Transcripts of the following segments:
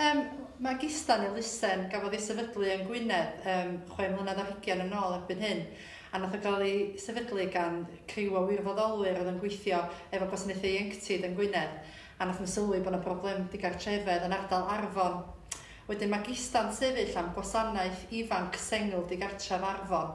Um, mae Gistan Elusen gafodd ei sefydlu yn Gwynedd um, chwe mlynedd o hugian yn ôl erbyn hyn, a nath o gael ei sefydlu gan criw o wirfoddolwyr oedd yn gweithio efo gwasanaethau ieuenctid yn Gwynedd, a nath nhw sylwi bod yna broblem digartrefedd yn ardal Arfon. Wedyn mae Gistan sefyll am gwasanaeth ifanc sengl digartref Arfon,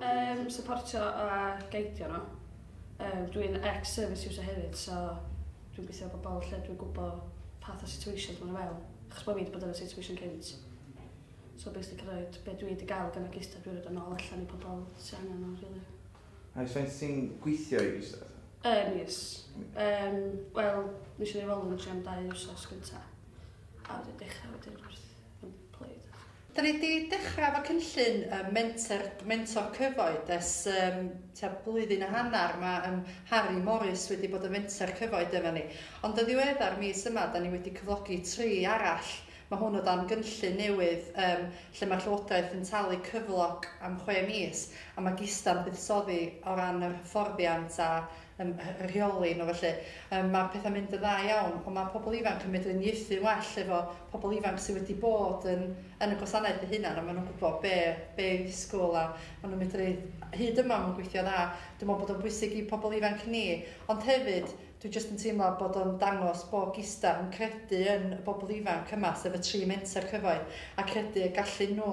Yym syportio a geidio nhw. Yym dwi'n ex service user hefyd so dwi'n gwithio efo bobl lle dwi'n gwbo pa fath o situations ma' n'w mewn achos bo fi 'di bod yn y situation cynt so basically kin' o' roid be' dwi 'di ga'l gan y geista'r dwi roid o nôl allan i pobl sy angan o rili. Ers faint ti'n gwithio i Brisbane ta? Yy mis. Yym wel nesh i neud voluntary am dau wsos gynta a wedyn dechra wedyn wrth Da ni wedi dechrau efo cynllun um, menter, mentor cyfoed ers um, tua blwyddyn a hanner. Mae um, Harry Morris wedi bod yn menter cyfoed efo ni. Ond yn ddiweddar mis yma, da ni wedi cyflogi tri arall. Mae hwn o dan gynllun newydd um, lle mae'r Llywodraeth yn talu cyflog am chwe mis a mae Gistan buddsoddi o ran yr hyfforddiant a yn rheoli nhw felly. Yym ma' petha'n mynd yn dda iawn ond ma' pobl ifanc yn medru uniaethu'n well efo pobl ifanc sy' wedi bod yn yn y gwasanaeth eu hunan a ma' nhw'n gwbo be' be' i ddisgwyl a ma' nhw'n medru... Hyd yma ma'n gweithio dda. Dwi me'wl bod o'n bwysig i pobl ifanc ni ond hefyd dwi jyst yn teimlo bod o'n dangos bo' Gista yn credu yn y bobl ifanc yma sef y tri menter cyfoeth a credu y gallu nhw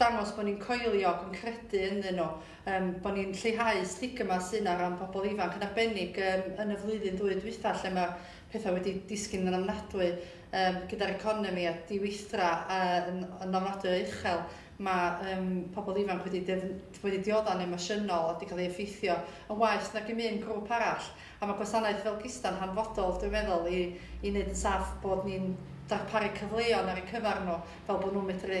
dangos bod ni'n coelio ac yn credu ynddyn nhw, yym bod ni'n lleihau y stigma sy' 'na o ran pobl ifanc, yn arbennig yym yn y flwyddyn ddwy dwytha lle ma' petha' wedi disgyn yn ofnadwy yym gyda'r economi a diweithdra a yn yn ofnadwy o uchel, ma' yym pobl ifanc wedi def- wedi diodda'n emosiynol a wedi cael ei effeithio yn waeth nag un un grŵp arall a ma' gwasanaeth fel Gista'n hanfodol dwi'n meddwl i i wneud yn saff bod ni'n darparu cyfleon ar eu cyfar nhw fel bod nhw'n medru